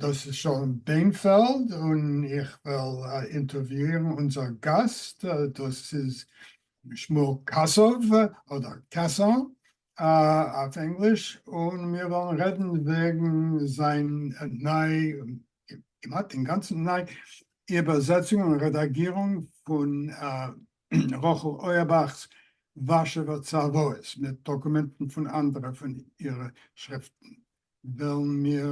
דאס איז שלום ביינפעלד און איך וועל אינטערוויאירן אונזער גאסט, דאס איז שמואל קאסאוו אדער Casson אויף ענגליש, און מיר וועלן רעדן וועגן זיין ניי, כמעט אינגאנצן ניי, איבערזעצונג און רעדאגירונג פון רחל אויערבאך'ס ווארשעווער צוואות מיט דאקומענטן פון אנדערע פון אירע שריפטן. וועלן מיר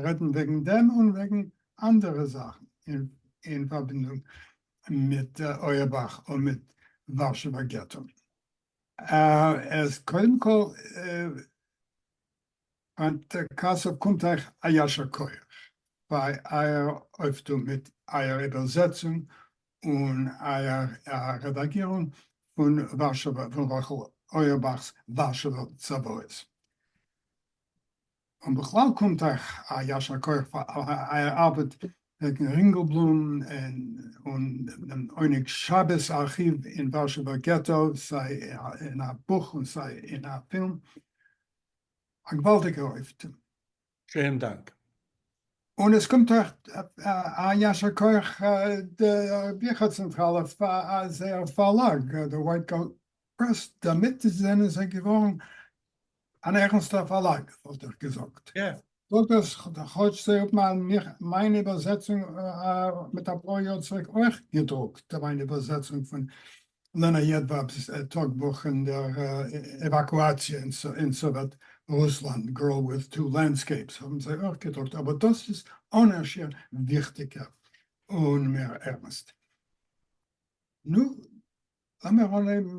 רעדן וועגן דעם און וועגן אנדערע זאכן אין פארבינדונג מיט אויערבאך און מיט ווארשעווער געטא. קודם כל, היינט קאסוב קומט אייך א יישר כח פאר אייער אויפטו מיט אייער איבערזעצונג און א רעדאגירונג פון ווארשעווע פון רחל אויערבאך'ס ווארשעווע צוואות. און בכלל קומט אייך א ישר כח פאר אייער ארבעט וועגן רינגעלבלום און דעם עונג שבת ארכיוו אין ווארשעווער געטא סיי אין א בוך און סיי אין א פילם. א געוואלדיגע אויפטו. שעהן דאנק. און עס קומט אויך א יישר כח דער ביכער צענטראלע פאר זייער פארלאג דער ווייט גאלד פרעס, דערמיט זענען זיי געווארן אן ערנסטער פארלאג וואלט איך געזאגט. זאגט דאס כאטש זיי האבן מיין איבערזעצונג מיט אפאר יאר צוריק אויך געדרוקט, מיין איבערזעצונג פון לענא יעדוואב'ס טאג בוך און דער עוואקואציע אין סאוועט רוסלאנד, גרל וויט טו לענדסקעיפס, האבן זיי אויך געדרוקט, אבער דאס איז אן ע ש וויכטיגער און מער ערנסט. נו, לאמיר אנהייבן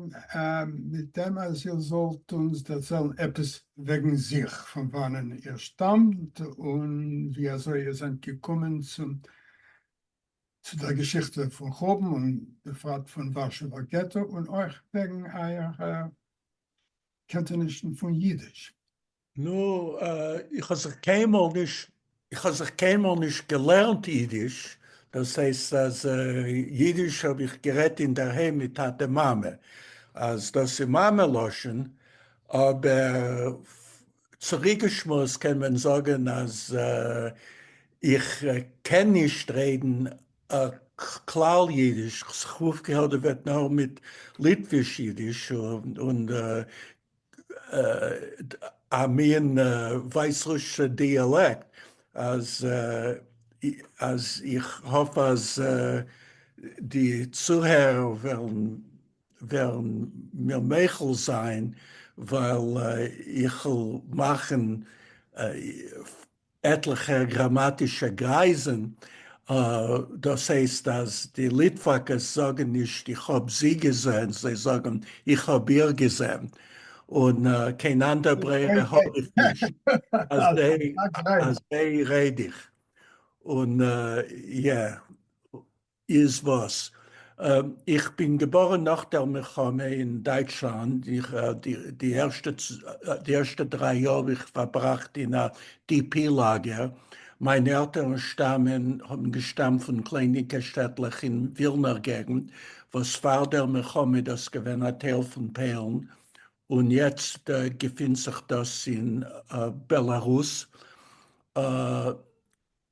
מיט דעם אז איר זאלט אונז דערציילן עפעס וועגן זיך, פון וואנען איר שטאמט און ווי אזוי איר זענט געקומען צום צו דער געשיכטע פון חורבן און בפרט פון ווארשעווער געטא און אויך וועגן אייערע קענטענישן פון יידיש. נו, איך האב זיך קיינמאל נישט איך האב זיך קיינמאל נישט געלערנט יידיש, דאס הייסט אז יידיש האב איך גערעדט אינדערהיים מיט טאטע מאמע, אז דאס איז מאמע לשון, אבער צוריקגעשמועסט קען מען זאגן אז איך קען נישט רעדן כלל אידיש, כ'האף געהערט דו וועט נאר מיט ליטוויש אידיש און א מין ווייסרוסישע דיאלעקט, אז איך האף אז די צוהערער וועלן וועלן מיר מוחל זיין ווייל איכ'ל מאכן עטליכע גראמאטישע גרייזן, דאס הייסט אז די ליטוואקעס זאגן נישט איך האב זי געזען, זיי זאגן איך האב איר געזען, און קיין אנדער ברירה האב איך נישט, אזוי רעד איך, און יא. איז וואס? איך בין געבארען נאך דער מלחמה אין דייטשלאנד, די ערשטע דריי יאר האב איך פארבראכט אין א DP לאגער, מיינע עלטערן שטאמען, האבן געשטאמט פון קלענינקע שטעטלעך אין ווילנער געגנט, וואס פאר דער מלחמה איז דאס געווען א טייל פון פוילן, און יעצט געפינט זיך דאס אין בעלארוס.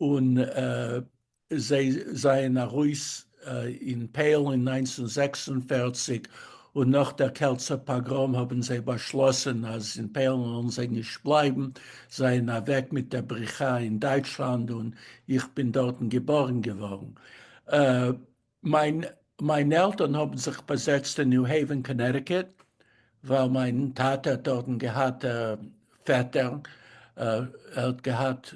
און זיי זעען ארויס אין פייל אין נײַנצן זעקס און פֿערציק און נאך דער קעלצער פאגראם האבן זיי באשלאסען אז אין פייל וועלן זיי נישט בלייבן, זעען אוועק מיט דער בריחה אין דייטשלאנד און איך בין דארטן געבארן געווארן. מיין מיינע עלטערן האבן זיך באזעצט אין ניו העווען קאנעטיקוט ווייל מיין טאטע האט דארטן געהאט א פעטער, ער האט געהאט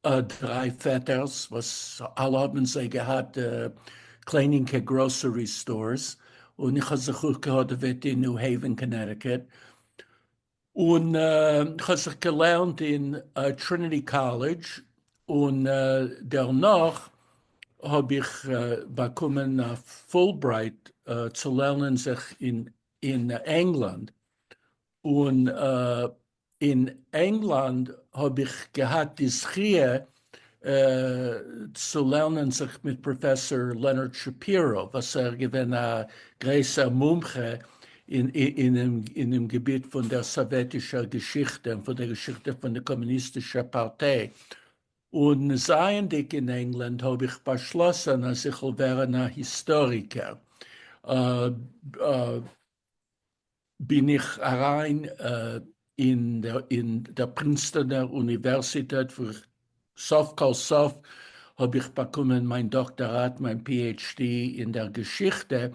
דריי פעטערס וואס אלע האבן זיי געהאט קלענינקע גראסערי סטארס, און איך האב זיך אפגעהאדעוועט אין ניו העווען קאנעטיקוט, און כ'האב זיך געלערנט אין טריניטי קאלעדזש, און דערנאך האב איך באקומען א פולברייט צו לערנען זיך אין ענגלאנד, און אין ענגלאנד האב איך געהאט די זכיה צו לערנען זיך מיט פראפעסאר לענארד שפירא וואס ער געווען א גרעסער מומחה אינעם געביט פון דער סאוועטישער געשיכטע און פון דער געשיכטע פון דער קאמוניסטישער פארטיי, און זייענדיג אין ענגלאנד האב איך באשלאסען אז איך וועל ווערען א היסטאריקער. בין איך אריין אין דער פרינסטאנער אוניווערסיטעט וואו איך סוף כל סוף האב איך באקומען מיין דאקטאראט, מיין PHD אין דער געשיכטע,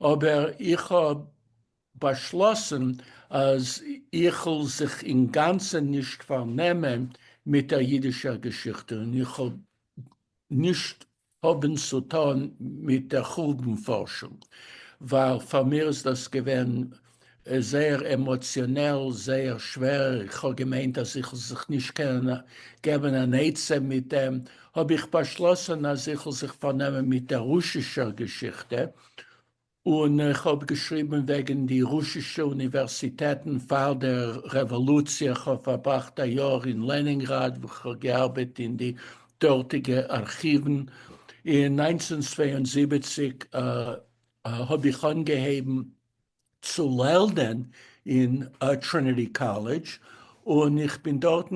אבער איך האב באשלאסן אז איכ'ל זיך אינגאנצן נישט פארנעמען מיט דער אידישער געשיכטע און איך האב נישט האבן צו טון מיט דער חורבן פארשונג, ווייל פאר מיר איז דאס געווען זייער עמאציאנעל, זייער שווער, איך האב געמיינט אז איך וועל זיך נישט קענען געבן אן עצה מיט דעם, האב איך באשלאסן אז איך וועל זיך פארנעמען מיט דער רוסישער געשיכטע, און איך האב געשריבן וועגן די רוסישע אוניווערסיטעטן פאר דער רעוואלוציע, איך האב פארבראכט א יאר אין לענינגראד וואו איך האב געארבעט אין די דארטיגע ארכיוון, אין נײַנצן צוויי און זיבעציק האב איך אנגעהויבן צו לערנען אין טריניטי קאלעדזש, און איך בין דארטן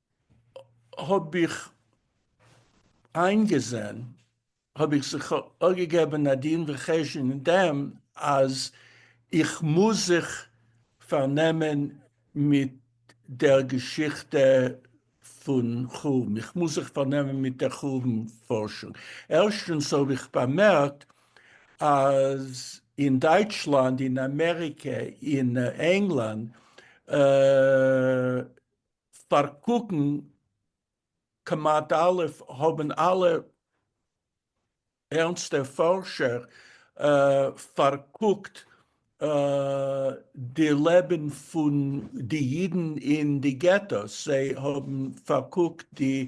האב איך איינגעזען, האב איך זיך אגעגעבען א דין וחשבון אין דעם אז איך מוז זיך פארנעמען מיט דער געשיכטע פון חורבן, איך מוז זיך פארנעמען מיט דער חורבן פארשונג. ערשטענס האב איך באמערקט אז אין דייטשלאנד, אין אמעריקע, אין ענגלאנד, פארקוקן כמעט אלע האבן אלע ערנסטע פארשער פארקוקט די לעבן פון די אידן אין די געטאס, זיי האבן פארקוקט די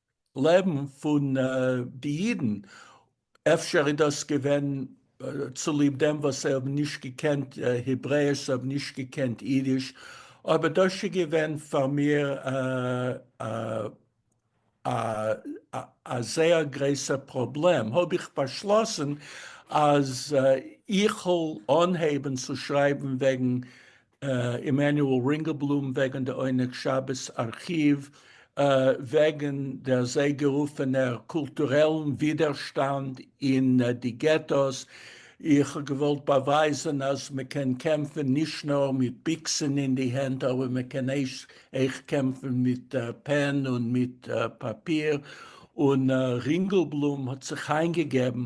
לעבן פון די אידן, אפשר איז דאס געווען צוליב דעם וואס זיי האבן נישט געקענט העברעיש, זיי האבן נישט געקענט אידיש, אבער דאס איז געווען פאר מיר א זייער גרויסע פראבלעם, האב איך באשלאסן אז איך וועל אנהייבן צו שרייבן וועגן עמנואל רינגעלבלום וועגן די עונג שבת ארכיוו, וועגן די אזוי גערופענער קולטורעלן ווידערשטאנד אין די געטאס, איך האב געוואלט באווייזען אז מען קען קעמפען נישט נאר מיט ביקסען אין די הענט אבער מען קען עכט קעמפען מיט פען און מיט פאפיר, און רינגעלבלום האט זיך איינגעגעבן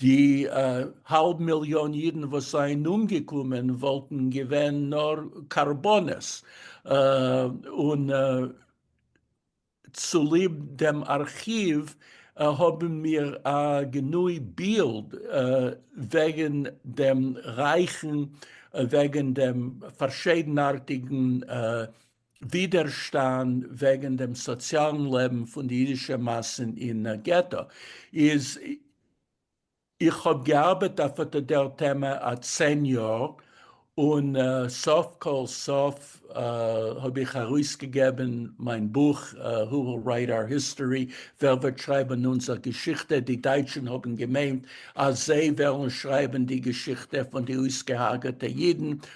די האלב מיליאן אידן וואס זענען אומגעקומען וואלטן געווען נאר קרבנות, און צוליב דעם ארכיוו האבן מיר א גענוי בילד וועגן דעם רייכן, וועגן דעם פארשיידנארטיגן ווידערשטאנד וועגן דעם סאציאלן לעבן פון די אידישע מאסן אין געטא איז איך האב געארבעט אויף אט דער טעמע א צען יאר, און סוף כל סוף האב איך ארויסגעגעבן מיין בוך Who Will Write Our History? ווער וועט שרייבן אונזער געשיכטע? די דייטשן האבן געמיינט אז זיי וועלן שרייבן די געשיכטע פון די אויסגעהארגעטע אידן,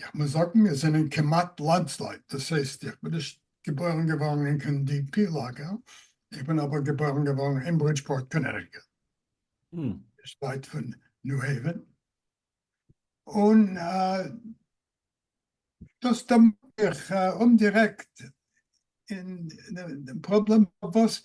איך מוז זאגן מיר זענען כמעט לאדז לייט, דאס הייסט איך בין נישט געבוירן געווארן אין קיין די פי לאגער, איך בין אבער געבוירן געווארן אין ברידזשפארט קאנעטיקעט, נישט ווייט פון ניו העווען, און דאס דערמאנט מיך אומדירעקט אין דעם פראבלעם פארוואס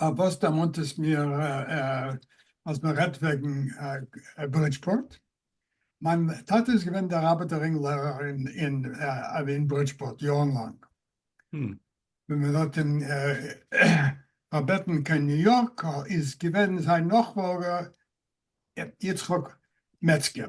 אה וואס דערמאנט עס מיר אז מען רעדט וועגן ברידזשפארט, מיין טאטע איז געווען דער רבי דער רינג לערער אין ברידזשפארט יארן לאנג, ווען מען האט אים פארבעטן קיין ניו יארק איז געווען זיין נאכפאלגער יצחק מעצגער,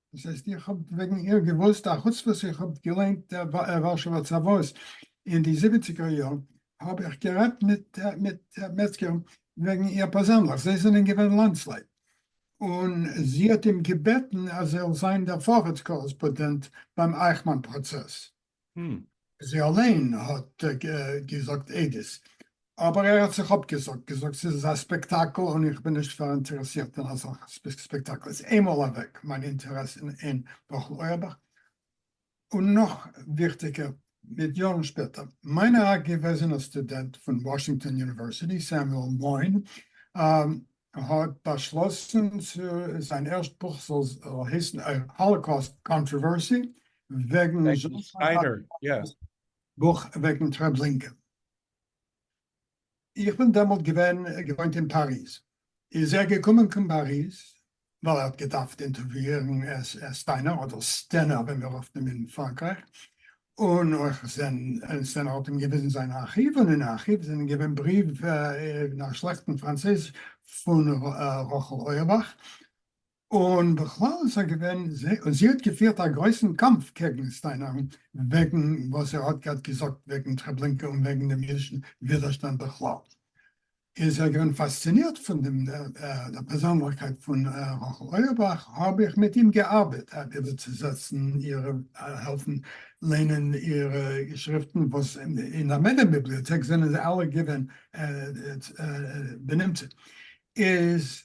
דאס הייסט איך האב וועגן איר געוואוסט, א חוץ וואס איך האב געליינט דער ווארשעווער צוואות אין די זיבעציגער יארן, האב איך גערעדט מיט מעצגער וועגן איר פערזענליך, זיי זענען געווען לאנדסלייט, און זי האט אים געבעטן אז ער זאל זיין דער פארעטס קארעספאדענט ביים אייכמאן פראצעס. ם. זי אליין האט געזאגט עדות, אבער ער האט זיך אפגעזאגט, געזאגט ס'איז אזא ספעקטאקל און איך בין נישט פאראינטערעסירט אין אזעלכע ספעקטאקל, איז איינמאל אוועק מיין אינטערעס אין רחל אויערבאך. און נאך וויכטיגער, מיט יארן שפעטער, מיין א געוועזענער סטודענט פון וואשינגטאן יוניווערסיטי, סעמיועל מוין, ער האט באשלאסן צו זיין ערשט בוך זאל הייסן א האלאקאוסט קאנטראווערסי וועגן בוך וועגן טרעבלינקען. איך בין דעמאלט געווען געוואוינט אין פאריז. איז ער געקומען קיין פאריז ווייל ער האט געדארפט אינטערוויאירן סטיינער אדער סטענער ווי מיר רופן אים אין פראנקרייך, און אויך סטענער האט אים געוויזן זיין ארכיוו, און אין ארכיוו זענען געווען בריוו אין א שלעכטן פראנצויזיש פון רחל אויערבאך, און בכלל איז ער געווען, און זי האט געפירט א גרויסן קאמף קעגן סטיינער וועגן וואס ער האט געזאגט וועגן טרעבלינקע און וועגן דעם אידישן ווידערשטאנד בכלל. איר זענט געווען פאסצינירט פון דעם דער פערזענליכקייט פון רחל אויערבאך, האב איך מיט אים געארבעט אויף איבערצוזעצן איר, העלפן ליינען איר געשריפטן, וואס אין א מעדעם ביבליאטעק זענען זיי אלע געווען בנמצא, איז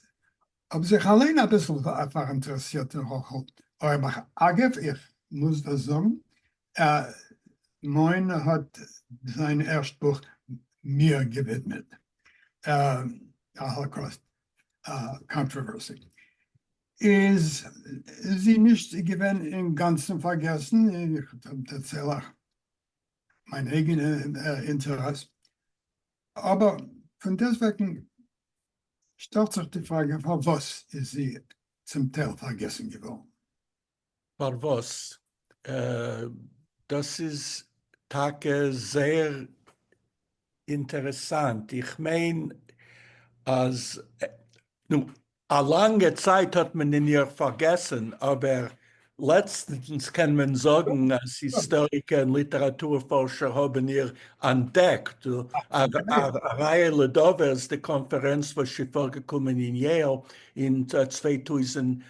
האב זיך אליין אביסל פאראינטערעסירט אין רחל אויערבאך, אגב איך מוז דא זאגן מוהנ א האט זיין ערשט בוך מיר געווידמעט א האלאקאוסט קאנטראווערסי. איז זי נישט געווען אינגאנצן פארגעסן? איך דערצייל אייך מיין אייגענע אינטערעס. אבער פון דעסטוועגן שטעלט זיך די פראגע פארוואס איז זי צום טייל פארגעסן געווארן? פארוואס? דאס איז טאקע זייער אינטערעסאנט, איך מיין אז נו, א לאנגע צייט האט מען אין איר פארגעסן, אבער לעצטנס קען מען זאגן אז היסטאריקער און ליטעראטור פארשער האבן איר אנטדעקט. א ראיה לדבר איז די קאנפערענץ וואס איז פארגעקומען אין יעיל אין צוויי טויזנט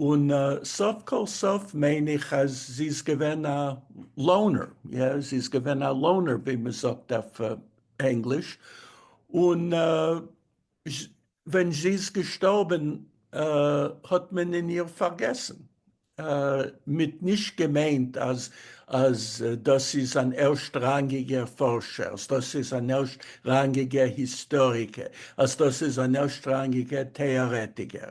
און סוף כל סוף מיין איך אז זי איז געווען א לאונער, יא זי איז געווען א לאונער ווי מען זאגט אויף ענגליש, און ווען זי איז געשטארבען האט מען אין איר פארגעסען, מיט נישט געמיינט אז אז דאס איז אן ערשט ראנגיגער פארשער, אז דאס איז אן ערשט ראנגיגער היסטאריקער, אז דאס איז אן ערשט ראנגיגער טעארעטיגער,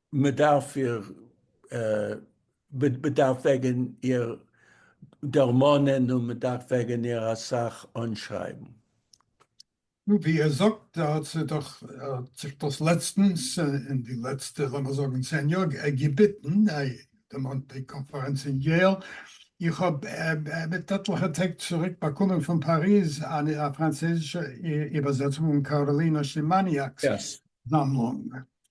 מען דארף איר מען דארף וועגען איר דערמאנען און מען דארף וועגען איר אסאך אנשרייבען. נו ווי ער זאגט ער האט זיך דאך ער האט זיך דאס לעצטענס אין די לעצטע לאמיר זאגען צען יאר געביטען דערמאנט די קאנפערענץ אין יעל, איך האב מיט עטליכע טעג צוריק באקומען פון פאריז א פראנצויזישע איבערזעצונג און קארעלינא שימאניאק'ס זאמלונג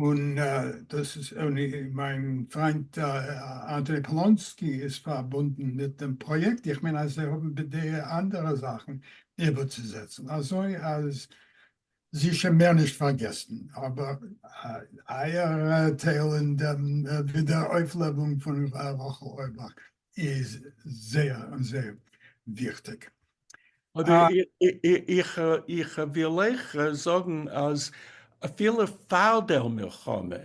און דאס איז און מיין פריינט אנדרי פאלאנסקי איז פארבונדן מיט דעם פראיעקט, איך מיין אז זיי האבן בדעה אנדערע זאכן איבערצוזעצן, אזוי אז זי שוין מער נישט פארגעסן, אבער אייער טייל אין דעם ווידעראויפלעבונג פון רחל אוירבאך איז זייער און זייער וויכטיג. איך וויל אייך זאגן אז אפילו פאר דער מלחמה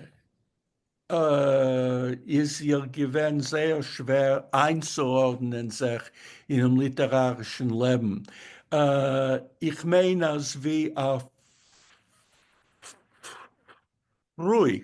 איז איר געווען זייער שווער איינצוארדענען זיך אינעם ליטערארישן לעבן, איך מיין אז ווי א פרוי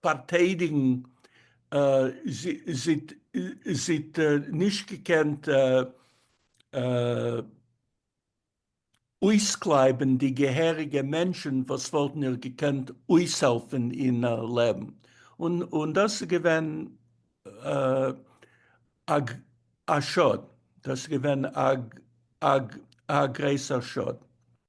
פארטיידיגן זי האט נישט געקענט אויסקלייבן די געהעריגע מענטשן וואס וואלטן איר געקענט אויסהעלפן אין לעבן און דאס איז געווען א שאד דאס איז געווען א גרויסער שאד.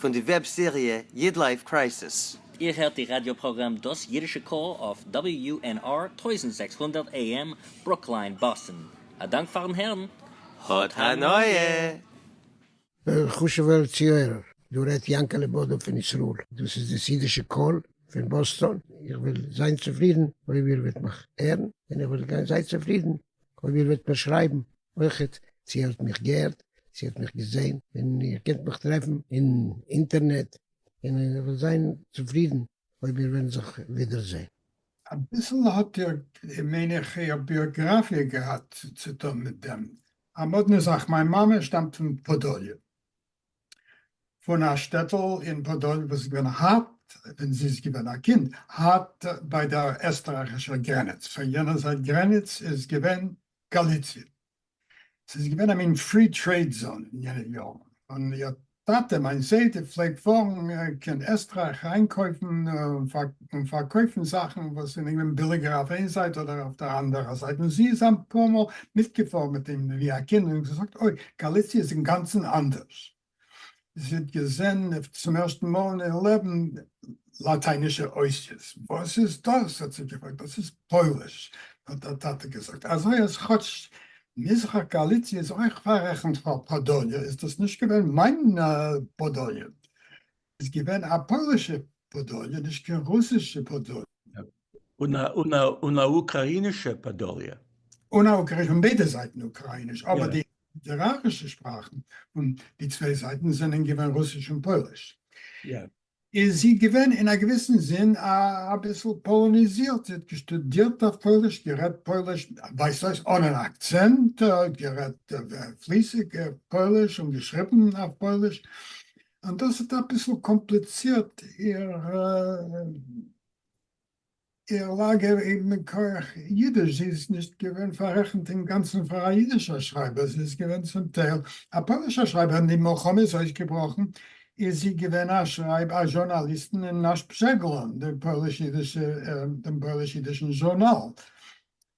פון די וועב סעריע איד לייף קרייסיס. איר הערט די ראדיא פראגראם דאס אידישע קול אויף WUNR טויזנט זעקס הונדערט AM ברוקליין באסטן. א דאנק פארן הערן. האט הנאה! וועלכע חשוב'ער צוהערער? דא רעדט יענקעלע בודא פון ישראל. דאס איז דאס אידישע קול פון באסטאן. איך וועל זיין צופרידן אויב איר וועט מיך הערן, און איך וועל גיין זיי צופרידן אויב איר וועט מיר שרייבן. אויכעט צו איר האט מיך געהערט, צו איר האט מיך געזעהן, און איר קענט מיך טרעפן אין אינטערנעט, און איך וועל זיין צופרידן אויב מיר וועלן זיך ווידער זעהן. אביסל האט איר, מיין איך, איר ביאגראפיע געהאט צוטון מיט דעם. א מאדנע זאך, מיין מאמע שטאמט פון פאדאליע, פון א שטעטל אין פאדאליע וואס איז געווען הארט, ווען זי איז געווען א קינד, הארט ביי דער עסטרייכישער גרעניץ, פון יענער זייט גרעניץ איז געווען גאליציע. ס'איז געווען א מין פרי טרעיד זאון אין יענע יארן, און איר טאטע, מיין זיידע, פלעגט פארן קיין עסטרייך איינקויפן און פארקויפן זאכן וואס זענען געווען ביליגער אויף איין זייט אדער אויף דער אנדערער זייט, און זי איז אפאר מאל מיטגעפארן מיט אים ווי א קינד און געזאגט, אוי, גאליציע איז אינגאנצן אנדערש. זי האט געזען צום ערשטן מאל אין איר לעבן לאטיינישע אותיות. וואס איז דאס? האט זי געפרעגט. דאס איז פויליש, האט דער טאטע געזאגט. אזוי אז כאטש מזרח גאליציע איז אויך פאררעכנט פאר פאדוליע, איז דאס נישט געווען מיין פאדוליע. איז געווען א פוילישע פאדאליע נישט קיין רוסישע פאדאליע. און א אוקראינישע פאדאליע. און א אוקראינישע פון ביידע זייטן אוקראיניש אבער די ליטערארישע שפראכן פון די צוויי זייטן זענען געווען רוסיש און פויליש. איז זי געווען אין א געוויסן זין אביסל פאלאניזירט זי האט געשטודירט אויף פויליש גערעדט פויליש ווייזט אויס אן אן אקצענט גערעדט פליסיג פויליש און געשריבן אויף פויליש און דאס האט אביסל קאמפליצירט איר לאגער אין מכח אידיש, זי איז נישט געווען פארעכנט אינגאנצן פאר א אידישער שרייבער, זי איז געווען צום טייל א פוילישער שרייבער, ווען די מלחמה איז אויסגעבראכן איז זי געווען א שרייב א זשורנאליסטן אין נאש פזשעגלאן, דעם פויליש-אידישן זשורנאל,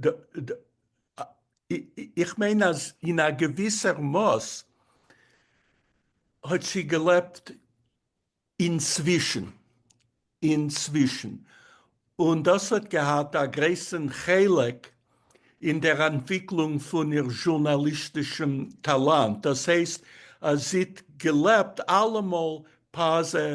ד ד איך מיין אז אין א געוויסער מאס האט זי געלעבט אינצווישן, אינצווישן, און דאס האט געהאט א גרויסן חלק אין דער אנטוויקלונג פון איר זשורנאליסטישן טאלאנט, דאס הייסט אז זי האט געלעבט אלעמאל פאזע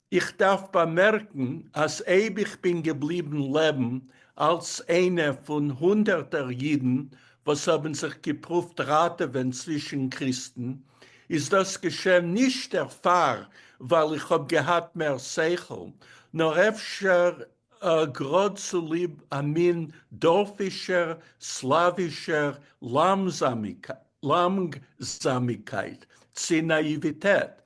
איך דארף באמערקן אז אויב איך בין געבליבן לעבן אלס איינע פון הונדערטער אידן וואס האבן זיך געפרואווט ראטעווען צווישן קריסטן, איז דאס געשען נישט דערפאר ווייל איך האב געהאט מער שכל, נאר אפשר גראד צוליב א מין דארפישער סלאווישער לאמגזאמיקייט צי נאיוויטעט.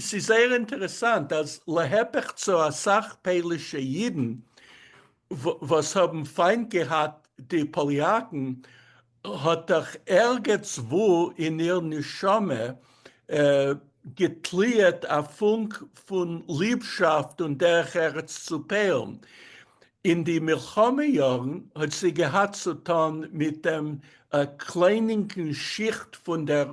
ס'איז זייער אינטערעסאנט אז להיפך צו אסאך פאלישע אידן וואס האבן פיינט געהאט די פאליאקן, האט דאך ערגעץ וואו אין איר נשמה געטליעט א פונק פון ליבשאפט און דרך ארץ צו פוילן. אין די מלחמה יארן האט זי געהאט צו טון מיט דעם קליינינקן שיכט פון דער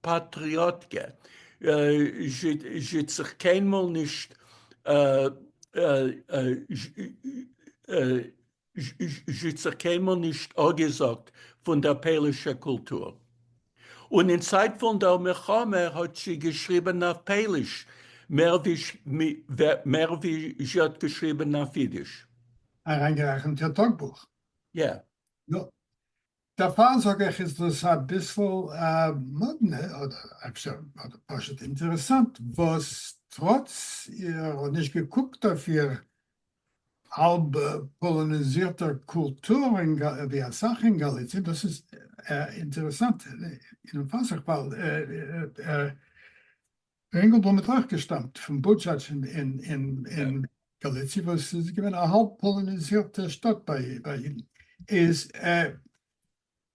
פאטריאטקע, זשע זיך קיינמאל נישט זשע זיך קיינמאל נישט אגעזאגט פון דער פאלישער קולטור. און אין צייט פון דער מלחמה האט זשע געשריבען אויף פעליש מער ווי מער ווי זשע האט געשריבען אויף אידיש. אריינגערעכנט איר טאגבוך? יא. נו. דערפאר זאג איך איז דאס אביסל מאדנע, אדער אפשר פשוט אינטערעסאנט, וואס טראץ איר האט נישט געקוקט אויף איר האלב פאלאניזירטער קולטור ווי אסאך אין גאליציע, דאס איז אינטערעסאנט און פאסיג ווייל דער אינגעלבלום האט אויך געשטאמט פון בודזשאדזש אין גאליציע וואס איז געווען א האלב פאלאניזירטע שטאט ביי אידן, איז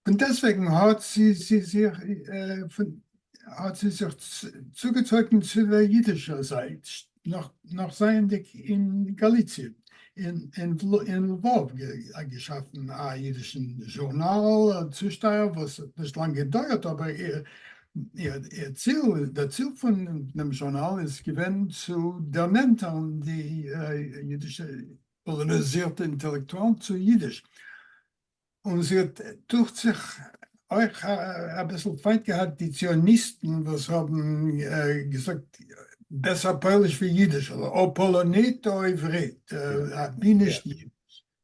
פון דעסטוועגן האט זי זיך פון האט זי זיך צוגעצויגן צו דער אידישער זייט נאך זייענדיג אין גאליציע, אין לוואוו געשאפן א אידישן זשורנאל, א צושטייער וואס האט נישט לאנג געדויערט אבער דער ציל פון דעם זשורנאל איז געווען צו דערנענטערן די אידישע פאלאניזירטע אינטעלעקטואלן צו אידיש, און זי האט דוכט זיך אויך אביסל פיינט געהאט די ציוניסטן וואס האבן געזאגט בעסער פויליש ווי אידיש, או פאלאנית או עברית, אבי נישט אידיש.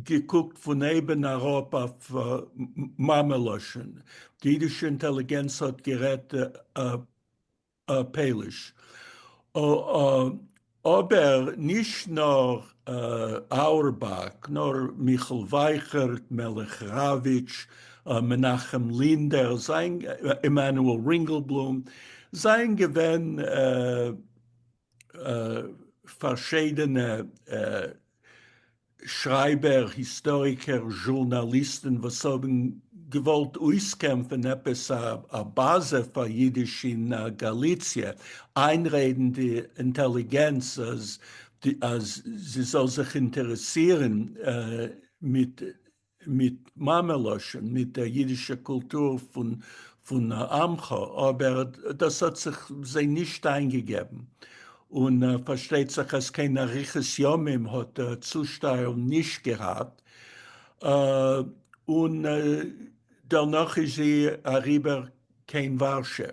געקוקט פון אויבן אראפ אויף מאמע לשון, די אידישע אינטעליגענץ האט גערעדט פעליש, אבער נישט נאר אורבאך, נאר מיכל ווייכערט, מלך ראוויטש, מנחם לינדער, עמנואל רינגעלבלום, זיי געווען פארשידענע שרייבער, היסטאריקער, זשורנאליסטן וואס האבן געוואלט אויסקעמפן עפעס א באזע פאר אידיש אין גאליציע, איינרעדן די אינטעליגענץ אז זי זאל זיך אינטערעסירן מיט מיט מאמע לשון, מיט דער יידישער קולטור פון עמך, אבער דאס האט זיך זיי נישט איינגעגעבן, און פארשטייט זיך אז קיין אריכות ימים האט דער צושטעל נישט געהאט, און דערנאך איז זי אריבער קיין ווארשע.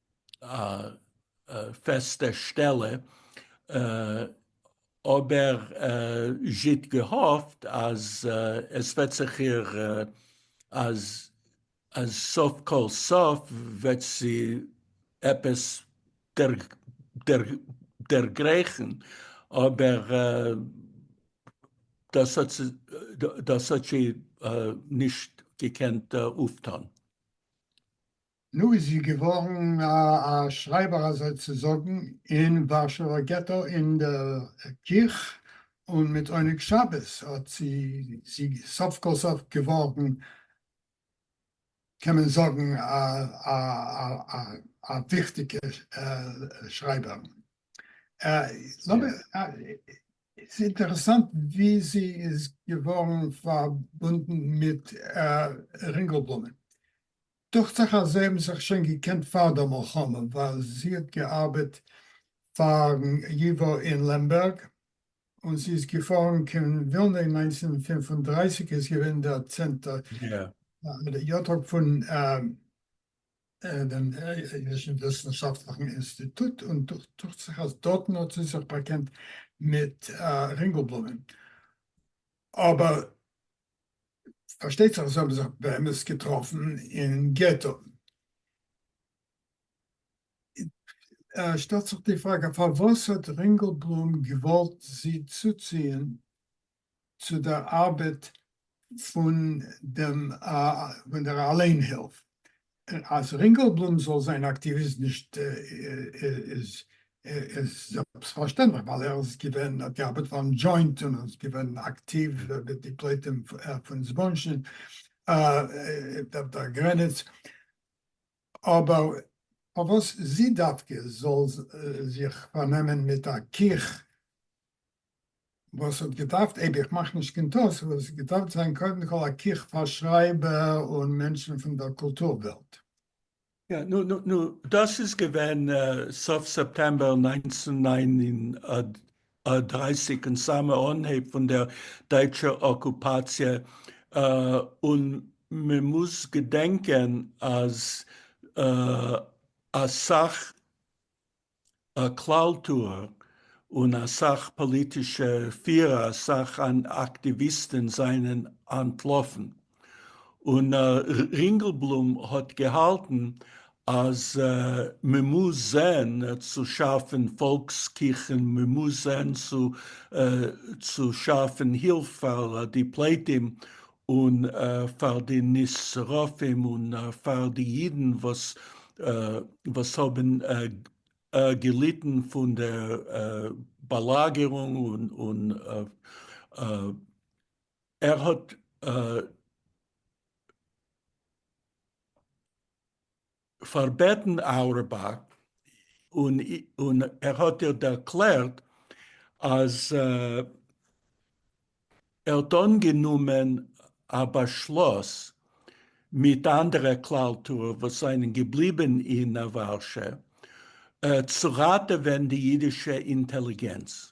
א פעסטע שטעלע, אבער זשיט געהאפט אז עס וועט זיך איר אז אז סוף כל סוף וועט זי עפעס דערגרייכן, אבער דאס האט זי דאס האט זי נישט געקענט אויפטון. נו איז זי געווארן א שרייבער אזוי צו זאגן אין ווארשעווער געטא אין דער קיך, און מיט עונג שבת האט זי זי סוף כל סוף געווארן קען מען זאגן א וויכטיגע שרייבער. ס'איז אינטערעסאנט ווי זי איז געווארן פארבונדן מיט רינגעלבלומען. דוכט זיך אז זיי האבן זיך שוין געקענט פאר דער מלחמה, ווייל זי האט געארבעט פארן ייוואו אין לעמבערג, און זי איז געפארן קיין ווילנע אין נײַנצן פֿינף און דרײַסיק איז געווען דער צענטער יאטאג פון דעם אידישן וויסנשאפטליכן אינסטיטוט, און דוכט זיך אז דארטן האט זי זיך באקענט מיט רינגעלבלומען, אבער פארשטייט זיך אז זיי האבן זיך באמת געטראפן אין געטא. שטעלט זיך די פראגע פארוואס האט רינגעלבלום געוואלט זי צוציען צו דער ארבעט פון דער אליין הילף? אז רינגעלבלום זאל זיין אקטיוויסט נישט איז זעלבסט פארשטענדליך ווייל ער איז געווען האט געארבעט פארן דזשוינט און איז געווען אקטיוו מיט די פליטים פון זבולון דער גרעניץ אבער פארוואס זי דווקא זאל זיך פארנעמען מיט א קיך וואס האט געדארפט, אייב איך מאך נישט קיין טעות, וואלט עס געדארפט זיין קודם כל א קוך פאר שרייבער און מענטשן פון דער קולטור וועלט. יא, נו, נו, נו, דאס איז געווען סוף סעפטעמבער נײַנצן נײַן און דרײַסיק און סאמע אנהייב פון דער דייטשער אקופאציע, און מען מוז געדענקען אז אסאך א כלל טוער און אסאך פאליטישע פירער אסאך אקטיוויסטען זענען אנטלאפן און רינגעלבלום האט געהאלטן אז מען מוז זען צו שאפען פאלקס קיכען מען מוז זען צו שאפען הילף פאר די פליטים און פאר די נשרפים און פאר די אידן וואס האבן געליטן פון דער באלאגערונג, און ער האט. פארבעטן אוירבאך און ער האט איר ערקלערט אז ער האט אנגענומען א באשלוס מיט אנדערע כלל טוער וואס זענען געבליבן אין ווארשע צו ראטעווען די אידישע אינטעליגענץ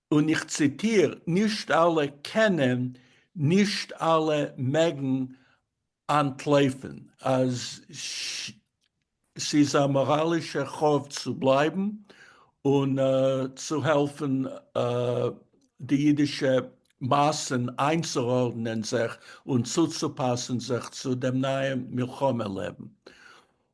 און איך ציטיר, נישט אלע קענען, נישט אלע מעגן אנטלויפן, אז ס'איז א מאראלישע חוב צו בלייבן און צו העלפן די אידישע מאסן איינצוארדנען זיך און צוצופאסן זיך צו דעם נייעם מלחמה לעבן.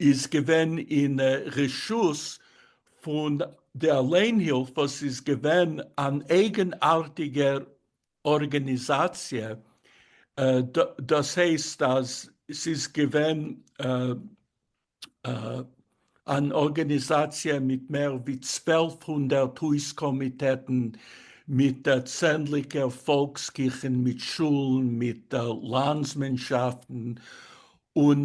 איז געווען אין רשות פון די אליינהילף וואס איז געווען אן אייגענארטיגע ארגעניזאציע, דאס הייסט אז ס'איז געווען אן ארגעניזאציע מיט מער ווי צוועלף הונדערט הויז קאמיטעטן, מיט צענדליגער פאלקס קיכן, מיט שולן, מיט לאנדסמענשאפטן, און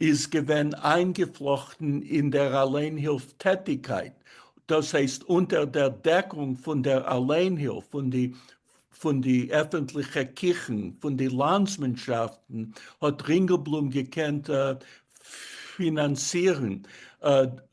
איז געווען איינגעפלאכטן אין דער אליינהילף טעטיקייט, דאס הייסט אונטער דער דעקונג פון דער אליינהילף, פון די פון די עפענטליכע קיכן, פון די לאנדסמאנשאפטן, האט רינגעלבלום געקענט פינאנצירן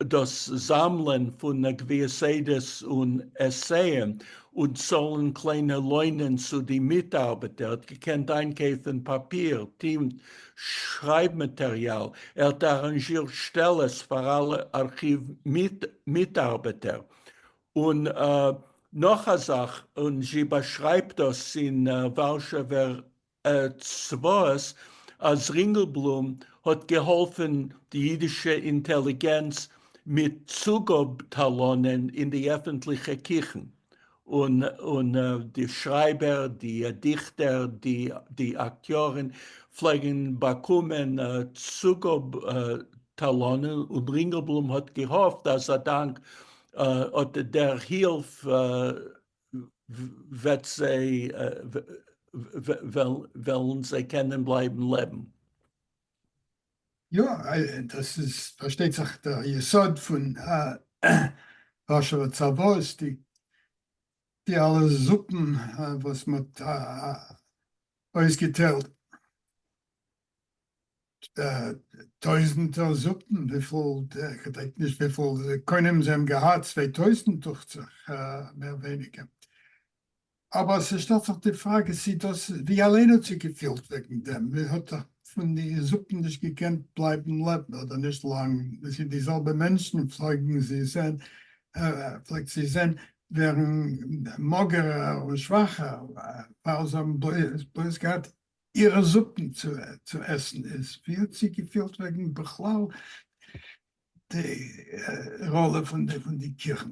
דאס זאמלען פון גביעסעדעס און עסען, און צאלן קליינע לוינען צו די מיטארבעטער, ער האט געקענט איינקויפן פאפיר, טינט, שרייב מאטעריאל, ער האט אראנזשירט שטעלעס פאר אלע ארכיוו מיטארבעטער, און נאך א זאך, און זי באשרייבט דאס אין ווארשעווער צוואות, אז רינגעלבלום האט געהאלפען די אידישע אינטעליגענץ מיט צוגאב טאלאנען אין די עפענטליכע קיכן. און די שרייבער, די דיכטער, די אקטיארען פלעגען באקומען צוגאב טאלאנען, און רינגעלבלום האט געהאפט אז אדאנק אט דער הילף וועלען זיי קענען בלייבען לעבען. יא, דאס איז פארשטייט זיך דער יסוד פון ווארשעווער צוואות, די די אלע זופן וואס מען האט אויסגעטיילט, טויזענטער זופן, וויפיל, כ'דענק נישט וויפיל קונים זיי האבן געהאט, צוויי טויזענט דוכט זיך, מער ווייניגער. אבער ס'שטעלט זיך די פראגע צי דאס איז ווי אליין האט זיך געפילט וועגן דעם, מען האט דאך פון די זקן נישט געקענט בלייבן לעבן אדער נישט לאנג, דאס איז די זעלבע מענטשן פלעגן זי זען פלעגט זי זען ווערן מאגערער און שוואכער ווייל זיי האבן בלויז געהאט אירע זקן צו עסן, איז ווי האט זי געפילט וועגן בכלל די ראלע פון די קיכן?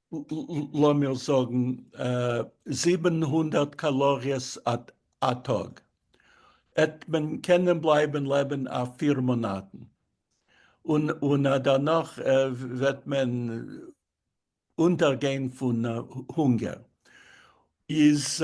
לאמיר זאגן זיבן הונדערט קאלאריעס א טאג, עט מען קענען בלייבן לעבן אויף פיר מאנאטן, און דערנאך וועט מען אונטערגיין פון הונגער, איז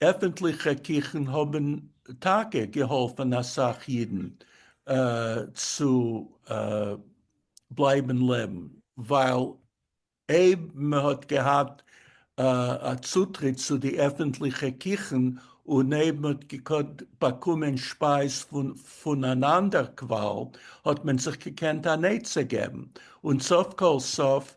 עפנטליכע קיכן האבן טאקע געהאלפן אסאך אידן צו בלייבן לעבן, ווייל אויב מען האט געהאט א צוטריט צו די עפנטליכע קיכן, און אויב מען האט געקאנט באקומען שפייז פון אן אנדער קוואל, האט מען זיך געקענט אן עצה געבן, און סוף כל סוף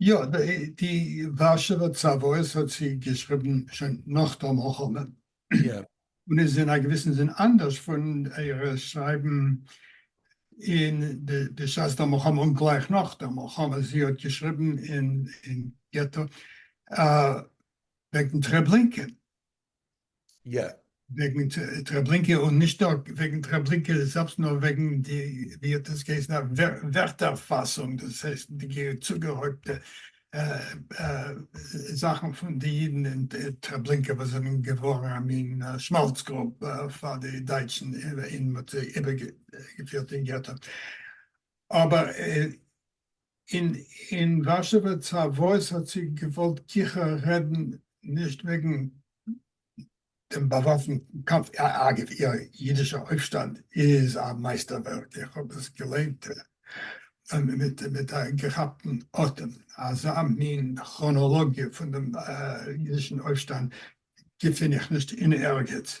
יא, די ווארשעווער צוואות האט זי געשריבן שוין נאך דער מלחמה, און איז אין א געוויסן זין אנדערש פון אירע שרייבן אין בשעת דער מלחמה און גלייך נאך דער מלחמה, זי האט געשריבן אין געטא וועגן טרעבלינקע. יא. וועגן טרעבלינקע און נישט נאר וועגן טרעבלינקע זעלבסט נאר וועגן די ווי האט עס געהייסן א ווערטער פאסונג דאס הייסט די צוגערויבטע זאכן פון די אידן אין טרעבלינקע וואס זענען געווארן א מין שמאלץ גרוב פאר די דייטשן און מען האט זיי איבערגעפירט אין געטא אבער און אין ווארשעווע צוואות האט זי געוואלט גיכער רעדן נישט וועגן דעם באוואפנטן קאמף, אגב, איר אידישער אויפשטאנד איז א מייסטערווערק, איך האב דאס געליינט מיט א געכאפטן אטעם, אזא מין כראנאלאגיע פון דעם אידישן אויפשטאנד געפין איך נישט אין ערגעץ,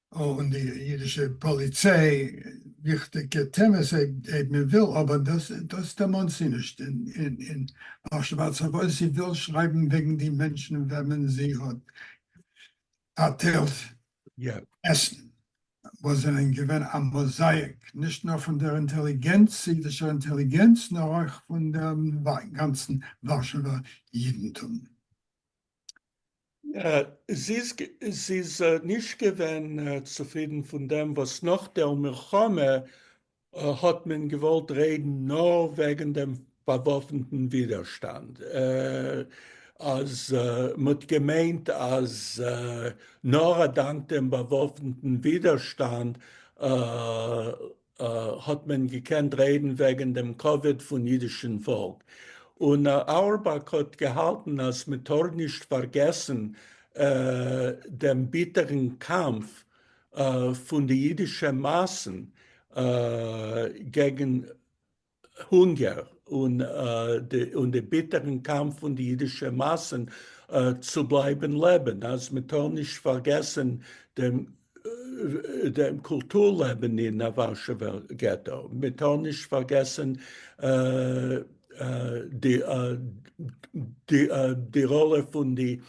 און די אידישע פאליציי, וויכטיגע טעמעס אויב מען וויל, אבער דאס דערמאנט זי נישט אין פרשת ואתחבות, זי וויל שרייבן וועגן די מענטשן וועמען זי האט פארטיילט עסן, וואס זענען געווען א מאזאיק נישט נאר פון דער אינטעליגענץ, אידישער אינטעליגענץ, נאר אויך פון דעם גאנצן ווארשעווער אידנטום. זי איז נישט געווען צופרידן פון דעם וואס נאך דער מלחמה האט מען געוואלט רעדן נאר וועגן דעם באוואפנטן ווידערשטאנד, אז מ'האט געמיינט אז נאר אדאנק דעם באוואפנטן ווידערשטאנד האט מען געקענט רעדן וועגן דעם כבוד פון אידישן פאלק, און אורבאך האט געהאלטן אז מען טאר נישט פארגעסן דעם ביטערן קאמף פון די אידישע מאסן געגן הונגער און די ביטערן קאמף פון די אידישע מאסן צו בלייבן לעבן, אז מען טאר נישט פארגעסן דעם קולטור לעבן אין א ווארשעווער געטא, מען טאר נישט פארגעסן די ראלע פון די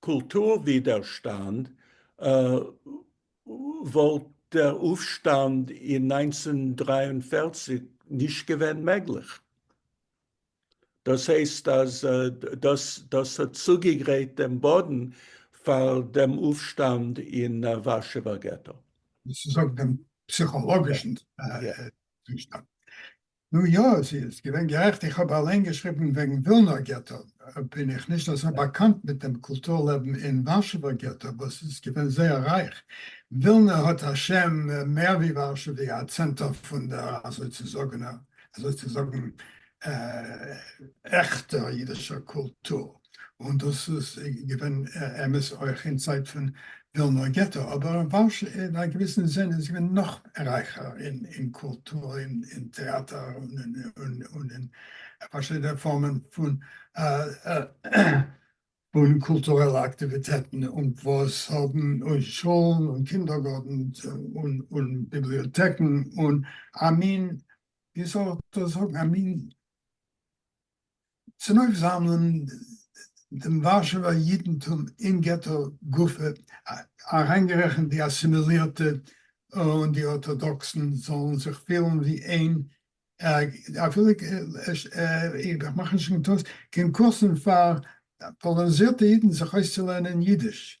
קולטור ווידערשטאנד וואלט דער אויפשטאנד אין נײַנצן דרײַ און פֿערציק נישט געווען מעגליך. דאס הייסט אז דאס האט צוגעגרייט דעם באדן פאר דעם אויפשטאנד אין ווארשעווער געטא. דאס איז אויף דעם פסיכאלאגישן צושטאנד. נו יא, עס איז געווען גערעכט, איך האב אליין געשריבן וועגן ווילנא געטא, בין איך נישט אזוי באקאנט מיט דעם קולטור לעבן אין ווארשעווער געטא וואס איז געווען זייער רייך, ווילנא האט א שם מער ווי ווארשא ווי א צענטער פון דער אזוי צו זאגן עכטער אידישער קולטור. און דאס איז געווען אמת אויך אין צייט פון ווילנא געטא, אבער ווארשע אין א געוויסן זין איז געווען נאך רייכער אין קולטור, אין טעאטער, און אין פארשידענע פארמען פון קולטורעלע אקטיוויטעטן, און וואס האבן און שולן און קינדערגארטן און ביבליאטעקן, און א מין, ווי זאל איך דאס זאגן, א מין צונויפזאמלען דעם ווארשעווער יידנטום אין געטא גופא, אריינגערעכנט די אסימילירטע און די ארטאדאקסן, זאלן זיך פילן ווי איין, אפילו איך מאך נישט קיין קורסן פאר פאלאניזירטע יידן זיך אויסצולערנען יידיש,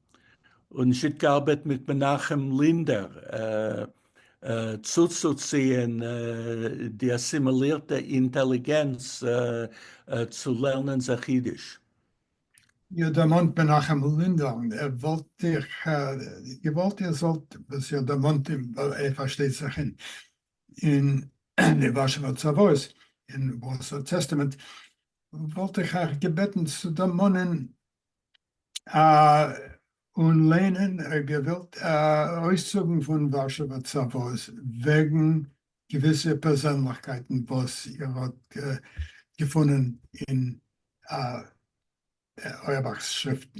און נישט געארבעט מיט מנחם לינדער צוצוציען די אסימילירטע אינטעליגענץ צו לערנען זיך אידיש. איר דערמאנט מנחם לינדער, וואלט איך געוואלט איר זאלט, וואס איר דערמאנט אים, ווייל ער פארשטייט זיך אין אין די ווארשעווער צוואות, אין ווארסא טעסטאמענט, וואלט איך אייך געבעטן צו דערמאנען און לענין געוועלט אויסצוגן פון ווארשעווער צוואות וועגן געוויסע פערזענליכקייטן וואס איר האט געפונען אין אויערבאך'ס שריפטן.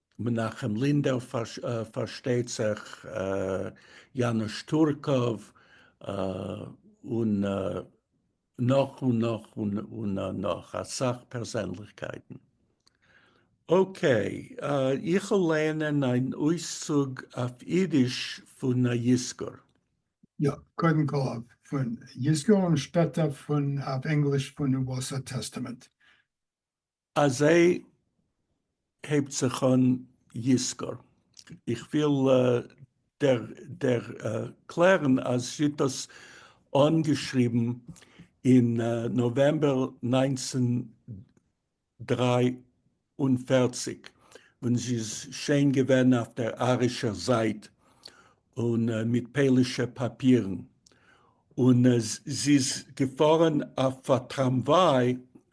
מנחם לינדער פארשטייט זיך, יאנוש טורקוב, און נאך און נאך און נאך אסאך פערזענליכקייטן. אקעי, איכ'ל לייענען אן אויסצוג אויף אידיש פון א יזכור. יא, קודם כל אויף אן יזכור און שפעטער אויף ענגליש פון וואסער טעסטאמענט. אזי הייבט זיך אן יזכור. איך וויל דערקלערן אז זי האט דאס אנגעשריבן אין נאוועמבער נײַנצן דרײַ און פֿערציק ווען זי איז שוין געווען אויף דער ארישער זייט און מיט פאלישע פאפירן, און זי איז געפארן אויף א טראמוויי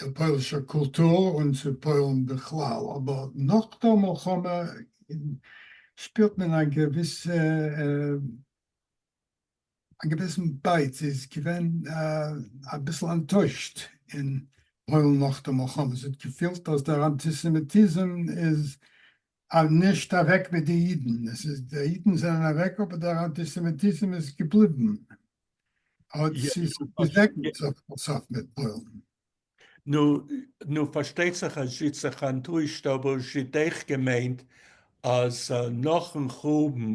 צו פוילישער קולטור און צו פוילן בכלל, אבער נאך דער מלחמה שפירט מען א געוויסע א געוויסן בייט, זי איז געווען אביסל אנטוישט אין פוילן נאך דער מלחמה, זי האט געפילט אז דער אנטיסעמיטיזם איז אז נישט אוועק מיט די אידן, עס איז די אידן זענען אוועק אבער דער אנטיסעמיטיזם איז געבליבן, האט זי זיך געזעגנט סוף כל סוף מיט פוילן. נו, נו, פארשטייט זיך אז זי האט זיך אנטוישט אבער זי האט עכט געמיינט אז נאכן חורבן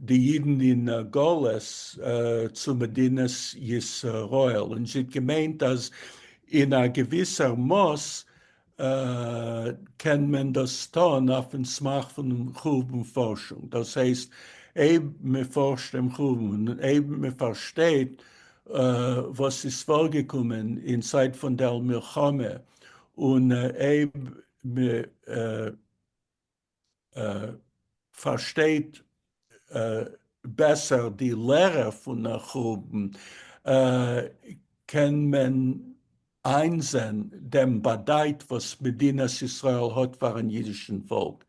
די אידן אין גלות צו מדינת ישראל, און זי האט געמיינט אז אין א געוויסער מאס קען מען דאס טון אויפן סמך פונעם חורבן פארשונג, דאס הייסט אויב מען פארשט דעם חורבן און אויב מען פארשטייט וואס איז פארגעקומען אין צייט פון דער מלחמה און אויב מען פארשטייט בעסער די לערע פון החורבן, קען מען איינזען דעם באדייט וואס מדינת ישראל האט פארן אידישן פאלק,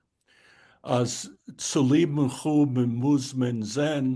אז צוליבן חורבן מוז מען זען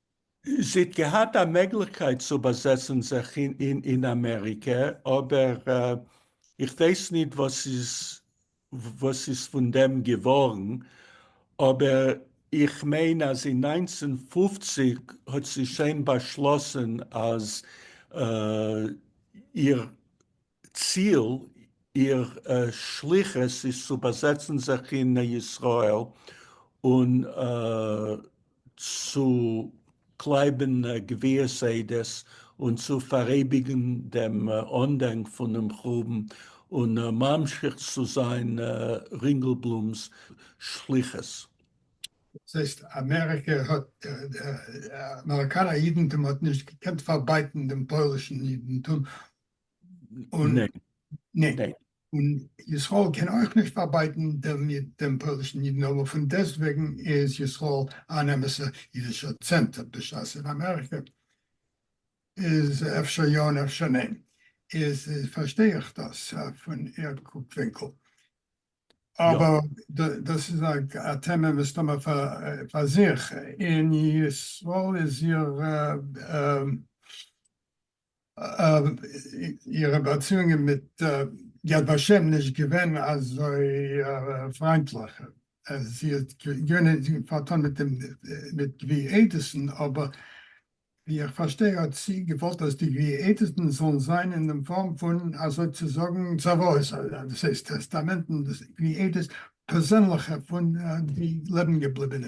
זי האט געהאט א מעגליכקייט צו באזעצן זיך אין אמעריקע, אבער איך ווייס ניט וואס איז פון דעם געווארן, אבער איך מיין אז אין נײַנצן פֿופֿציק האט זי שוין באשלאסן אז איר ציל איר שליחות איז צו באזעצן זיך אין ישראל און צו קלייבן גביית עדות און צו פאראייביגן דעם אנדענק פונעם חורבן און ממשיך צו זיין רינגעלבלומ'ס שליחות. דאס הייסט אמעריקע האט, אמעריקאנער אידנטום האט נישט געקענט פארבייטן דעם פוילישן אידנטום, און ניין, און ישראל קען אויך נישט פארבייטן דעם פוילישן אידן, אבער פון דעסטוועגן איז ישראל אן אמת'ע אידישער צענטער בשעת אין אמעריקע איז אפשר יא און אפשר ניין, איז פארשטיי איך דאס פון איר קוק ווינקל, אבער דאס איז א טעמע מסתמא פאר זיך, און ישראל איז איר אירע באציאונגען מיט יד ושם נישט געווען אזוי פריינטליך, זי האט געווען פארטון מיט דעם מיט גביר עדעסן, אבער ווי איך פארשטיי האט זי געוואלט אז די גביר עדעסן זאלן זיין אין דעם פארם פון אזוי צו זאגן צוואות, דאס הייסט טעסטאמענטן, גביר עדעס פערזענליכע פון די לעבן געבליבענע.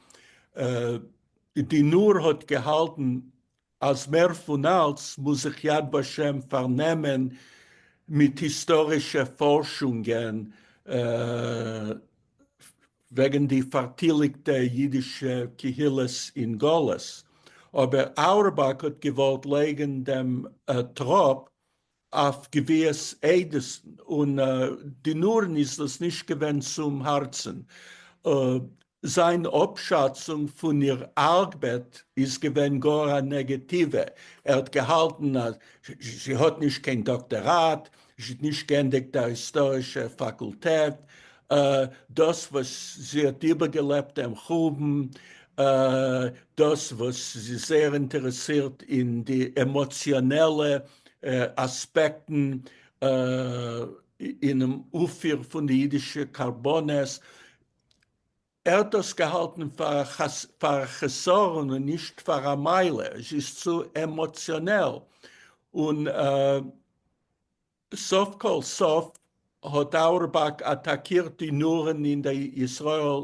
די נאר האט געהאלטן אז מער פון אלץ מוז זיך יד ושם פארנעמען מיט היסטארישע פארשונגען וועגן די פארטיליגטע אידישע קהילות אין גלות, אבער אורבאך האט געוואלט לייגן דעם טראפ אויף געוויעס עדות'ן און די נארן איז דאס נישט געווען צום הארצן. זיין אפשאצונג פון איר ארבעט איז געווען גאר א נעגעטיווע, ער האט געהאלטן אז זי האט נישט קיין דאקטעראט, זי האט נישט גענדיגט א היסטארישע פאקולטעט, דאס וואס זי האט איבערגעלעבט דעם חורבן, דאס וואס זי איז זייער אינטערעסירט אין די עמאציאנעלע אספעקטן אינעם אויפפיר פון די אידישע קרבנות, ער האט דאס געהאלטן פאר א חסרון און נישט פאר א מעלה, עס איז צו עמאציאנעל, און סוף כל סוף האט אוירבאך אטאקירט די נארן אין די ישראל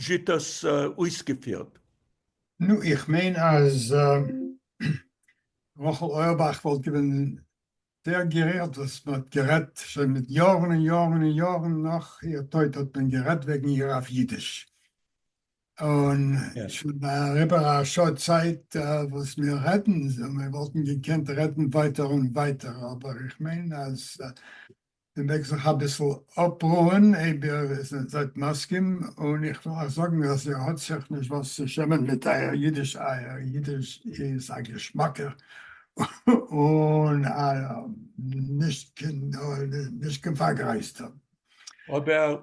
זשעט עס אויסגעפירט. נו איך מיין אז רחל אויערבאך וואלט געווען זייער גערירט וואס מען האט גערעדט שוין מיט יארן און יארן און יארן נאך איר טויט האט מען גערעדט וועגן איר אויף אידיש און שוין אריבער א שעה צייט וואס מיר רעדן, מיר וואלטן געקענט רעדן ווייטער און ווייטער אבער איך מיין אז מען מעג זיך אביסל אפרוען אויב איר זענט מסכים, און איך וויל אייך זאגן אז איר האט זיך נישט וואס צו שעמען מיט אייער אידיש, אייער אידיש איז א געשמאקער און א נישט קיין פארגרייזטער. אבער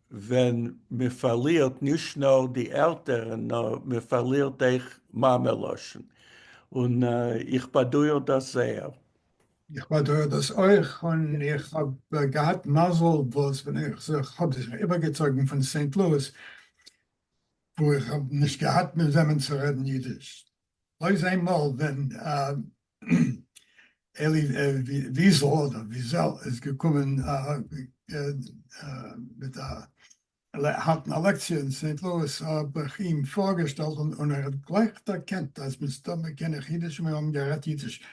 ווען מען פארלירט נישט נאר די עלטערן נאר מען פארלירט אויך מאמע לשון און איך באדויער דאס זייער. איך באדויער דאס אויך און איך האב געהאט מזל וואס ווען איך זיך האב זיך איבערגעצויגן פון סעינט לואיס וואו איך האב נישט געהאט מיט וועמען צו רעדן אידיש בלויז איינמאל ווען אלי וויזל אדער וויזעל איז געקומען מיט א האלטן א לעקציע אין סעינט לואיס האב איך אים פארגעשטעלט און ער האט גלייך דערקענט אז מסתמא קען איך אידיש און מיר האבן גערעדט אידיש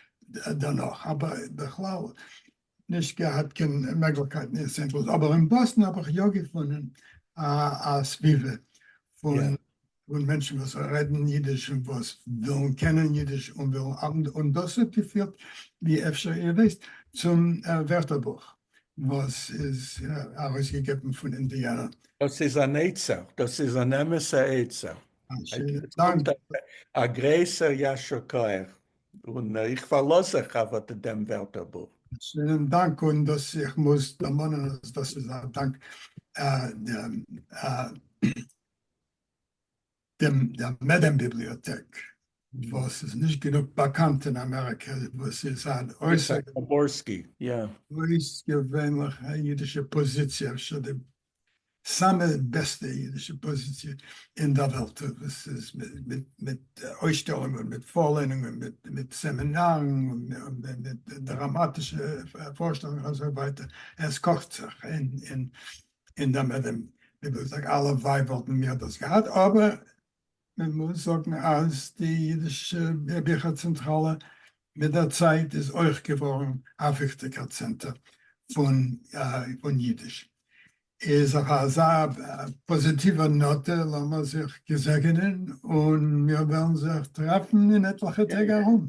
דערנאך אבער בכלל נישט געהאט קיין מעגליכקייטן אין סענט לואיס, אבער אין באסטן האב איך יא געפונען א סביבה פון מענטשן וואס רעדן אידיש און וואס ווילן קענען אידיש און ווילן ארבעטן, און דאס האט געפירט, ווי אפשר איר ווייסט, צום ווערטערבוך וואס איז ארויסגעגעבן פון אינדיאנא. דאס איז אן עצה, דאס איז אן אמת'ע עצה. א גרויסער יישר כח. און איך פארלאז זיך אויף אט דעם ווערטערבוך. שיינעם דאנק, און דאס איך מוז דערמאנען אז דאס איז א דאנק דער מעדעם ביבליאטעק וואס איז נישט גענוג באקאנט אין אמעריקע, וואס איז אן אויסערגעווענליכע אידישע פאזיציע, אפשר די סאמע בעסטע אידישע פאזיציע אין דער וועלט, וואס איז מיט אויסשטעלונגען, מיט פארלערנונגען, מיט סעמינארן, מיט דראמאטישע פארשטעלונגען און אזוי ווייטער, עס קאכט זיך אין דעם אדער דעם, ווי דו זאגסט אלע ווייב וואלטן מיר דאס געהאט, אבער מען מוז זאגן אז די אידישע ביכער צענטראלע מיט דער צייט איז אויך געווארן א וויכטיגער צענטער פון אידיש. איז אויף אזא פאזיטיווער נאטע לאמיר זיך געזעגענען און מיר וועלן זיך טרעפן אין עטליכע טעג ארום.